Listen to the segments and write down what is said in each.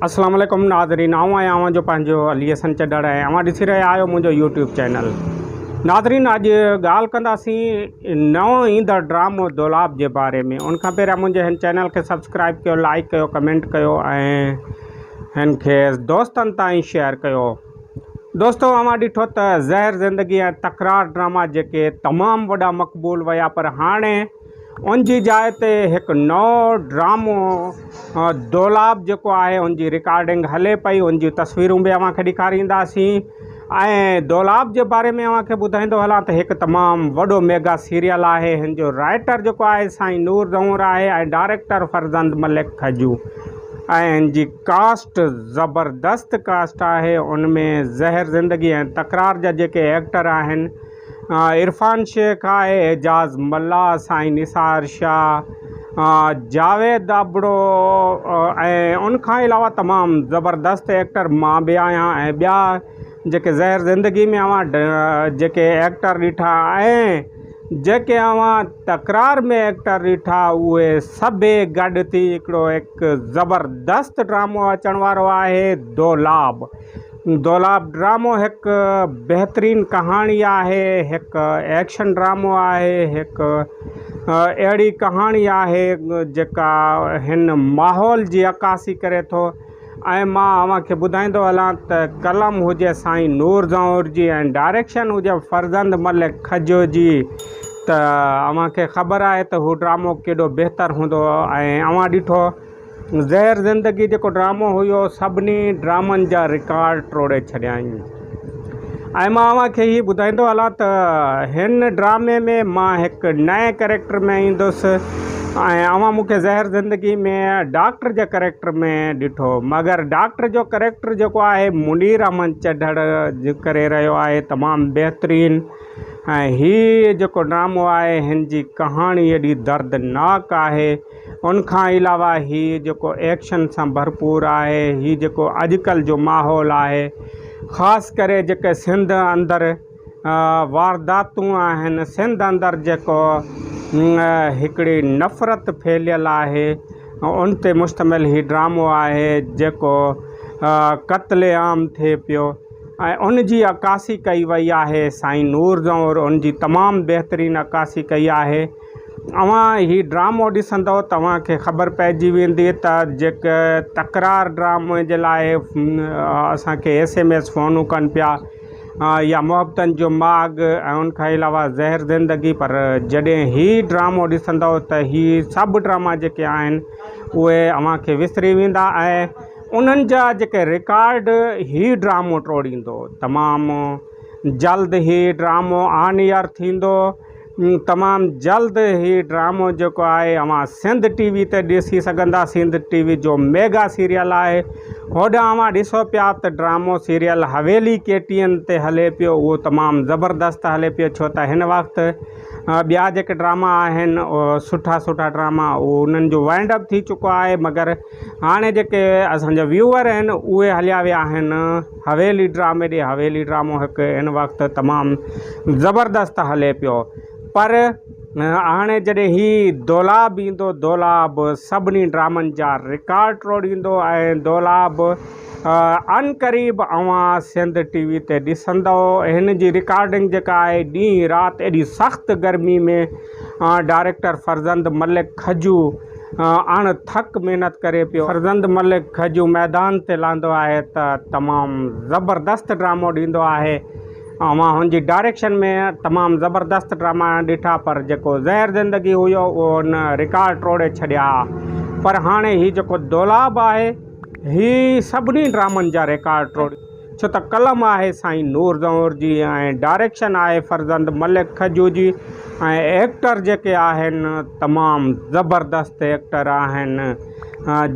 اسلام عليڪم ناظرين آئون آهيان اوهان جو پنهنجو علي حسن چڏڙ ۽ اوهان ڏسي رهيا آهيو منهنجو يوٽيوب چينل ناظرين اڄ ڳالهه ڪنداسين نئون ايندڙ ڊرامو دولاب جي باري ۾ ان کان پهريان منهنجي هن چينل کي سبسڪرائب ڪيو لائڪ ڪيو ڪمينٽ ڪيو ۽ هن کي دوستن تائين شيئر ڪيو دوستو اوهان ڏٺو ته زهر زندگي ۽ تڪرار ڊراما جيڪي تمام وڏا مقبول ويا پر هاڻي ان جي جاء تي هڪ نئون ڊرامو دولاب جيڪو آهي ان جي رڪارڊنگ هلي پئي ان جون تصويرون به اوهان کي ڏيکارينداسين ۽ دولاب جي باري ۾ اوهان کي ٻڌائيندو هلان ته هڪ تمام وڏو ميگا سيريل آهي هن جو رائيٽر جيڪو آهي سائين نور زهور آهي ۽ ڊائريڪٽر فرزند ملڪ کجو ۽ هن جي ڪاسٽ زبردست ڪاسٽ آهي ان ۾ زهر زندگي ۽ تڪرار جا جيڪي ايڪٽر آهن عرفان شيخ آء اعجاز ملاح سائين نثار شاھ جاويد ابڙو ۽ ان کان علاوه تمام زبردست ايڪٽر مان به آهيان ۽ ٻيا جيڪي زهر زندگي ۾ اوهان جيڪي ايڪٽر ڏٺا ۽ جيڪي اوهان تڪرار ۾ ايڪٽر ڏٺا اهي سڀئي گڏ ٿي هڪڙو هڪ زبردست ڊرامو اچڻ وارو آهي دولاب دولاب ڊرامو هڪ بهترين ڪهاڻي آهي هڪ ايڪشن ڊرامو آهي هڪ اهڙي ڪهاڻي آهي جيڪا هن ماحول جي عڪاسي ڪري ٿو ۽ مان اوهان کي ٻڌائيندو هلان ته قلم هجي سائين نور زئور جي ۽ ڊائريڪشن هجي فرزند ملڪ کجو جي ته اوهان کي خبر آهي ته هو ڊرامو ڪيڏو بهتر هوندو ۽ اوهان ڏٺو زهر زندگي جيڪو ڊرامو هيو سڀني ڊرامن جا رڪارڊ ٽوڙي ڇڏيائين ۽ مان اوهان کي هي ٻڌائيندو هلان ته هن ڊرامي ۾ مان هڪ نئين ڪريڪٽر ۾ ايندس ۽ اوهان مون کي زهر زندگي ۾ ڊاڪٽر جي ڪريڪٽر ۾ ڏٺو مگر ڊاڪٽر جو ڪريڪٽر جيڪو آهي منير احمد چڍڙ ڪري رهيو آهي تمام بهترين ۽ هي جيڪو ڊرامو آهي هن جي ڪهاڻي ايڏي دردناڪ آهي ان کان علاوه هي جيڪو ايڪشن سان ڀرپور آهي هي جيڪو اڄڪلهه جو ماحول آهي خاص ڪري جيڪي سنڌ اندر وارداتون آهن سنڌ اندر جيڪو هڪڙي نفرت ڦهليل آهي ان تي مشتمل هي ڊرامو آهي جيڪو قتل عام ٿئي پيو ۽ ان جي عڪاسي ڪئي وئي آهي سائين نور زئور ان جي تمام بهترين عڪاسي ڪئي آهي اوهان هي ڊرامو ڏسندؤ ته اوهان کي خبر پئجي ويندي ته جيڪي تڪرار ڊرامي جي لاء اسانکي ايس ايم ايس فونون ڪن پيا يا محبتن جو ماڳ ۽ ان کان علاوه زهر زندگي پر جڏهن هي ڊرامو ڏسندؤ ته هي سڀ ڊراما جيڪي آهن اهي اوهانکي وسري ويندا ۽ انهن جا جيڪي رڪارڊ هي ڊرامو ٽوڙيندو تمام جلد هي ڊرامو آن ايئر ٿيندو تمام جلد هي ڊرامو جيڪو آهي اوهان سنڌ ٽي وي تي ڏسي سگهندا سنڌ ٽي وي جو ميگا سيريل آهي هوڏانهن اوهان ڏسو پيا ته ڊرامو سيريل حويلي ڪي ٽي اين تي هلي پيو اهو تمام زبردست هلي پيو ڇو ته هن وقت ٻيا جيڪي ڊراما آهن سٺا سٺا ڊراما انهن جو وائنڊ اپ ٿي چڪو آهي مگر هاڻي جيڪي اسان جا ويوور آهن اهي هليا ويا آهن حويلي ڊرامي ڏي حويلي ڊرامو هڪ هن وقت تمام زبردست هلي پيو پر هاڻي جڏهن هي دولاب ايندو دولاب سڀني ڊرامن جا رڪارڊ ٽوڙيندو ۽ دولاب ان قريب اوهان سنڌ ٽي وي تي ڏسندو هن جي رڪارڊنگ جيڪا آهي ڏينهن رات ايڏي سخت گرمي ۾ ڊائريڪٽر فرزند ملڪ کجو اڻ ٿڪ محنت ڪري پيو. فرزند ملڪ کجو ميدان تي لهندو آهي ته تمام زبردست ڊرامو ڏيندو آهي. اوهان هن جي ڊائريڪشن ۾ تمام زبردست ڊراما ڏٺا پر جيڪو زهر زندگي هيو اهو هن رڪارڊ ٽوڙي ڇڏيا ها پر هاڻي هي جيڪو دولاب آهي هي سڀني ڊرامن جا رڪارڊ ٽوڙيندو. ڇو ته قلم آهي سائين نور زئور جي ۽ ڊائريڪشن آهي فرزند ملڪ کجو جي ۽ ايڪٽر جيڪي آهن تمام زبردست ايڪٽر آهن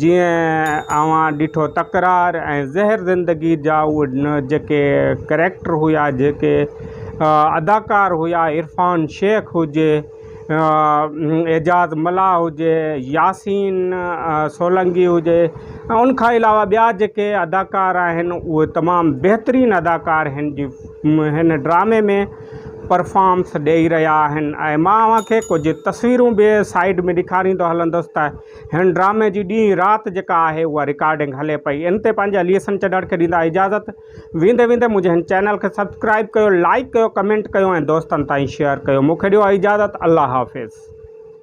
جيئن اوهان ڏٺو تڪرار ۽ زهر زندگي جا اهي جيڪي ڪريڪٽر هيا جيڪي اداڪار هيا عرفان شيخ هجي اعجاز ملاح هجي، ياسين سولنگي هجي ۽ ان کان علاوه ٻيا جيڪي اداڪار آهن اهي تمام بهترين اداڪار هن جي هن ڊرامي ۾ پرفامس ڏئي رهيا آهن ۽ مان اوهان کي ڪجهه تصويرون به سائيڊ ۾ ڏيکاريندو هلندس ته هن ڊرامي جي ڏينهن رات جيڪا آهي اها رڪارڊنگ هلي پئي ان تي پنهنجي اليسن چنڙ کي ڏيندا اجازت ويندي ويندي منهنجي هن چينل کي سبسڪرائب ڪيو لائڪ ڪيو ڪمينٽ ڪيو ۽ دوستن تائين شيئر ڪيو مونکي ڏيو اجازت الله حافظ.